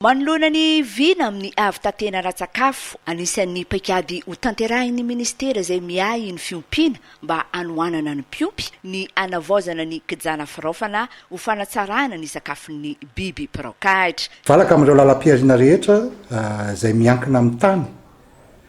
Manoloana ny vina amin'ny havitantena ara-tsakafo, anisan'ny paikady hotanterahin'ny minisitera izay miahy ny fiompiana mba hanohanana ny mpiompy ny hanavaozana ny kijana firaofana ho fanatsarana ny sakafon'ny biby mpiraokahitra. Valaka amin'ireo lalam-pihariana rehetra izay miankina amin'ny tany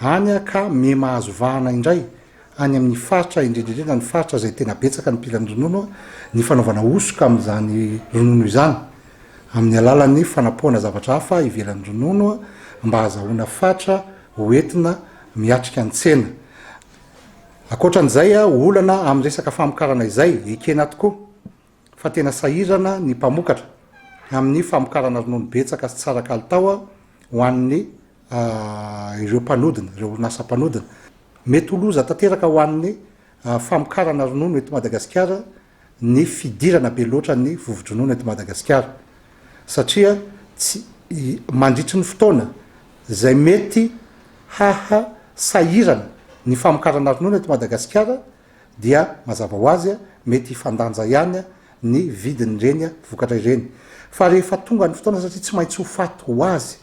Any aho ka miha mahazo vahana indray any amin'ny faritra, indrindra indrindra ny faritra izay tena betsaka ny mpilan'ny ronono, ny fanaovana hosoka amin'izany ronono izany amin'ny alalan'ny fanapohana zavatra hafa ivelan'ny ronono mba hazahoana fatra ho entina miatrika ny tsena. Ankoatran'izay, olana amin'ny resaka famokarana izay ekena tokoa. fa tena sahirana ny mpamokatra amin'ny famokarana ronono betsaka sy tsara kalitao ho an'ny ireo mpanodina, ireo orinasa mpanodina. Mety ho loza tanteraka ho an'ny famokarana ronono eto Madagasikara ny fidirana be loatra ny vovo-dronono eto Madagasikara satria tsy mandritry ny fotoana izay mety haha sahirana ny famokarana ronono eto Madagasikara dia mazava ho azy mety hifandanja ihany ny vidin'ireny vokatra ireny fa rehefa tonga ny fotoana satria tsy maintsy ho faty ho azy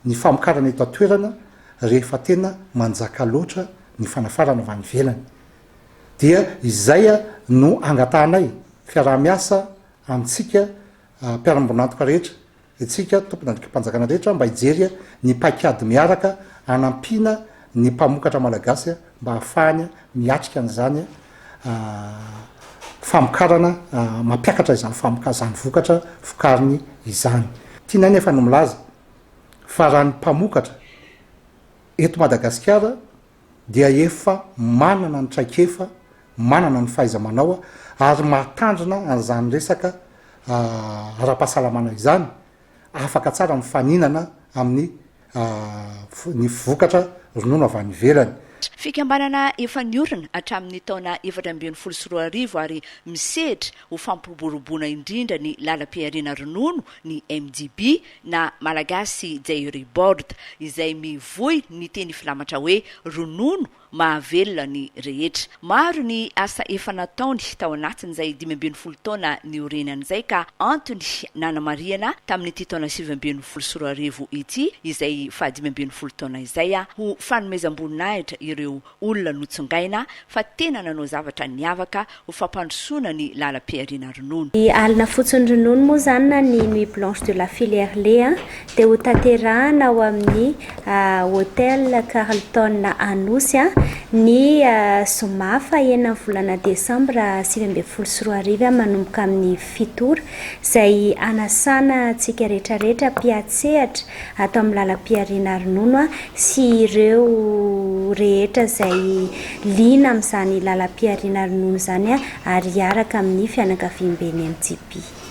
ny famokarana eto an-toerana rehefa tena manjaka loatra ny fanafarana avy any ivelany dia izay no angatahanay fiaraha-miasa amintsika mpiara-miombon'antoka rehetra Isika tompon'andikim-panjakana rehetra mba hijery ny paikady miaraka hanampiana ny mpamokatra malagasy mba hahafahany miatrika an'izany famokarana, mampiakatra izany famoka, izany vokatra vokariny izany. Tianay nefa ny milaza fa raha ny mpamokatra eto Madagasikara dia efa manana ny traikefa, manana ny fahaiza-manao ary mahatandrina an'izany resaka ara-pahasalamana izany, afaka tsara mifaninana amin'ny ny vokatra ronono avy any ivelany. Fikambanana efa niorina hatramin'ny taona efatra ambin'ny folo sy roa arivo ary misehatra ho fampiroboroboana indrindra ny lalam-pihariana ronono ny MDB na Malagasy Jairy Board, izay mivoy ny teny filamatra hoe ronono mahavelona ny rehetra. Maro ny asa efa nataony tao anatin'izay dimy ambin'ny folo taona niorenany izay ka antony nanamarihana tamin'ity taona sivy ambin'ny folo sy roa arivo ity izay fahadimy ambin'ny folo taona izay ho fanomezam-boninahitra ireo olona notsongaina fa tena nanao zavatra niavaka ho fampandrosoana ny lalam-pihariana ronono. Ny alina fotson'ny ronono moa izany na ny Nuit blanche de la filière lait dia ho tanterahana ao amin'ny Hotel Carlton Anosy ny zoma fahenina ny volana desambra sivy ambin'ny folo sy roa arivo manomboka amin'ny fito ora izay hanasana antsika rehetra rehetra mpiatsehatra ato amin'ny lalam-pihariana ronono sy ireo rehetra izay liana amin'izany lalam-pihariana ronono izany ary hiaraka amin'ny fianakaviamben'ny MJP.